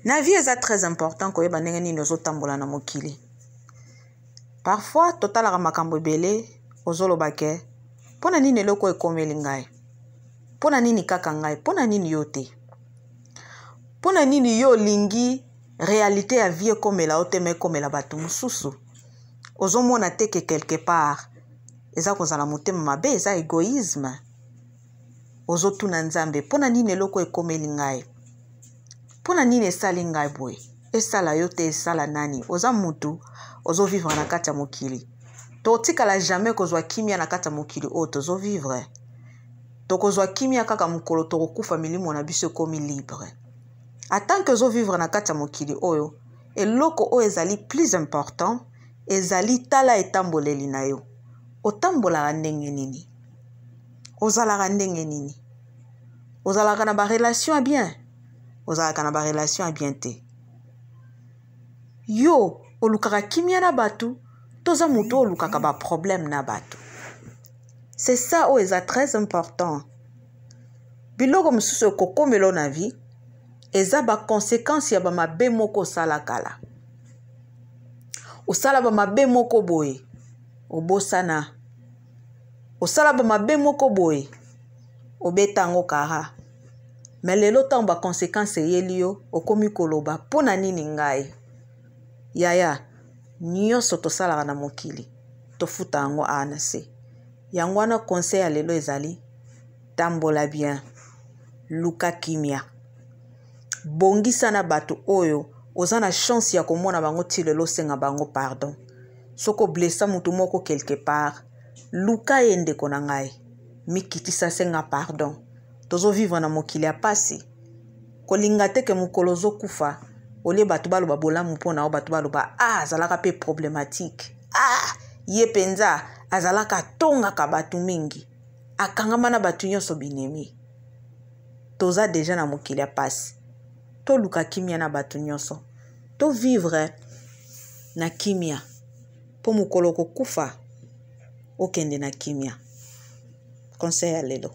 na vie eza très important koyeba ndenge nini ozotambola na mokili parfois totalaka makambo ebele ozoloba ke mpo na nini eloko ekomeli ngai mpo na nini kaka ngai mpo na nini yo te mpo na nini yo olingi réalité ya vie ekomela yo te ma ekomela bato mosusu ozomona te ke quelque part eza kozala motema mabe eza égoïsme ozotuna nzambe mpo na nini eloko ekomeli ngai mpo na nini esali ngai boye esala yo te esala nani oza mutu ozovivre na kati ya mokili tokotikala jamais kozwa kimia na kati ya mokili oyo tozovivre tokozwa kimia kaka mokolo tokokufa milimo na biso ekomi libre atanke ozovivre na kati ya mokili oyo eloko oyo ezali plus important ezali tala etamboleli na yo otambolaka ndenge nini ozalaka ndenge nini ozalaka na barelation ya bien ozalaka na barelation ya bien te yo olukaka kimia na bato toza moto oyo olukaka baproblème na bato c'est ça oyo eza très important biloko mosusu ekokomela na vie eza bakonsekansi ya bamabe moko osala kala osala bamabe moko boye obosana osala bamabe moko boye obeta yango kara me lelo ntango baconsequence eyeli yo okomi koloba mpo na nini ngai yaya nyonso tosalaka na mokili tofuta yango awa na se yango wana conseil ya lelo ezali tambola bien luka kimia bongisa na bato oyo oza na chance ya komona bango ti lelo osenga bango pardon soki oblesa motu moko quelque part luka ye ndeko na ngai mikitisa senga pardon tozovivre na mokili ya mpasi kolinga te ke mokolo ozokufa olie bato baloba bolamu mpo na yo bato baloba a ah, azalaka mpe problematike a ah, ye mpenza azalaka atongaka bato mingi akangama na bato nyonso binemi toza deja na mokili ya pasi toluka kimia na bato nyonso to vivre na kimia mpo mokolo kokufa okende na kimia conseil ya lelo